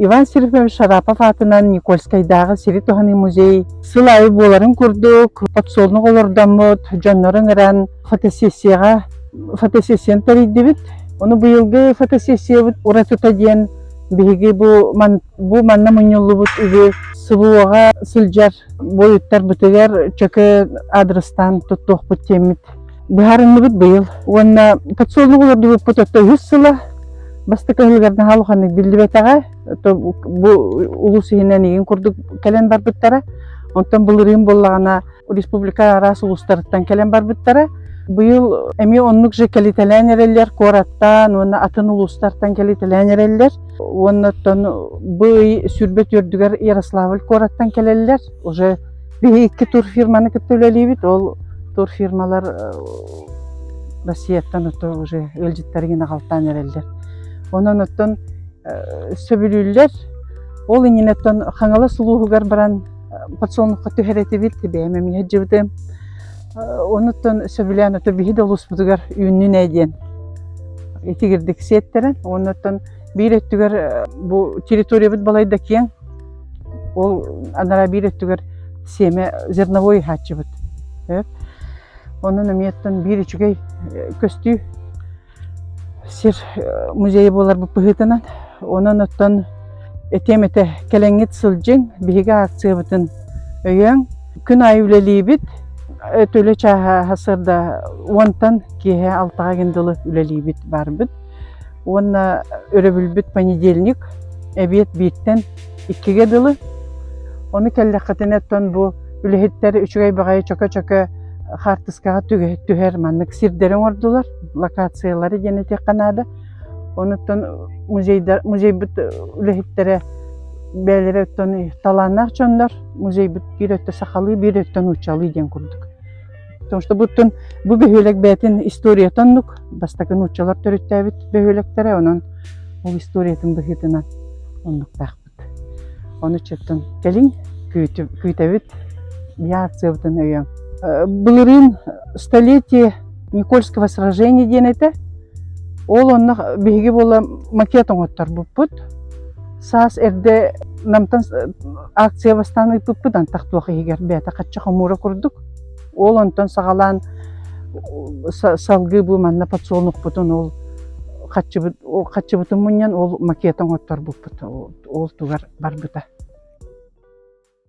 Иван Серифович Шарапов аатынан Никольскайдааҕы сири туһаныы музей сыл аайы буоларын курдук подсолнух олордоммут дьоннору ыҥыран фотосессияҕа фотосессияны тэрийдибит. Ону быйылгы фотосессиябыт уратыта диэн Биһиги бу, бу манна мунньуллубут үбү СВО-га сылдьар буойуттарбытыгар чөкө адрестаан туттуохпут диэммит. Быһаарынныбыт быйыл. Уонна подсолнух олордубуппут отто үһүс сыла бастакы ыһылыгар наһаа улаханнык биллибэтэҕэ. Бу улус иһинэн игин курдук кэлэн барбыттара. Онтон былырыын буоллаҕына республика араас улуустарыттан кэлэн барбыттара быйыл эмиэ оннук же кэлитэлээн эрэллэр куораттан уонна атын улуустартан кэлитэлээн эрэллэр уоннаттан бу ый сүүрбэт үөрдүгэр ярославль куораттан кэлэллэр уже биһи икки тур фирманы кытта үлэлиибит ол тур фирмалар россияттан отто уже ыалдьыттарыгын аҕалтаан эрэллэр онон оттон сөбүлүүллэр ол иннинэттон хаҥалас улууһугар баран подсолнухха түһэр этибит бэйэм эмиэ сылдьыбытым онуттан сөбүлээн ото биһи да улууспутугар үүннүн ээ диэн итигирдик сиэттэрэн онуттан биир өттүгэр бу территориябыт балайда киэң ол анараа биир өттүгэр семя зерновой хааччыбыт онон эмиэттэн биир үчүгэй көстүү сир музейа буоларбыт быһыытынан онон оттон этиэм этэ кэлэҥҥит сылдьыҥ биһиги акциябытын өйөөҥ күн аайы үлэлиибит эт үлэ чааһа сырда уонтан киэһэ алтаҕаген дылы үлэлиибит барбыт уонна өрөбүлбүт понедельник эбиэт бииртэн иккигэ дылы ону кэллэххитинэ оттон бу үлэһиттэр үчүгэй баҕайы чөкө-чөкө хаартыскаҕа түһэр маннык сирдэри оҥордулар локациялары диэн этиэххэ наада онуттан музейдар музейбут үлэһиттэрэ бэйэлэрэ оттон талааннаах дьоннор музейбут биир өттө сахалыы биир өттө нууччалыы диэн курдук потому что буттун бу бөһүөлэк бэйэтин историятын оннук бастакы нууччалар төрүттээбит бөһүөлэктэрэ онон ол историятын быһыытынан оннуктаах Ону чыттын кэлиҥ күүтэбит реакциябытын өйөөҥ. Былырыын столетие Никольского сражения диэн этэ. Ол онно биһиги буола макет оҥотторбуппут. Саас эрдэ Намтан акция бастаан ыыппыппыт антах туох иһигэр бэйэтэ хачча хомуура курдук. Ол онтон саҕалаан салгыы бу манна подсолнухпутун ол хаччыбыт хаччыбытын мунньан ол макет оҥотторбуппут ол тугар барбыта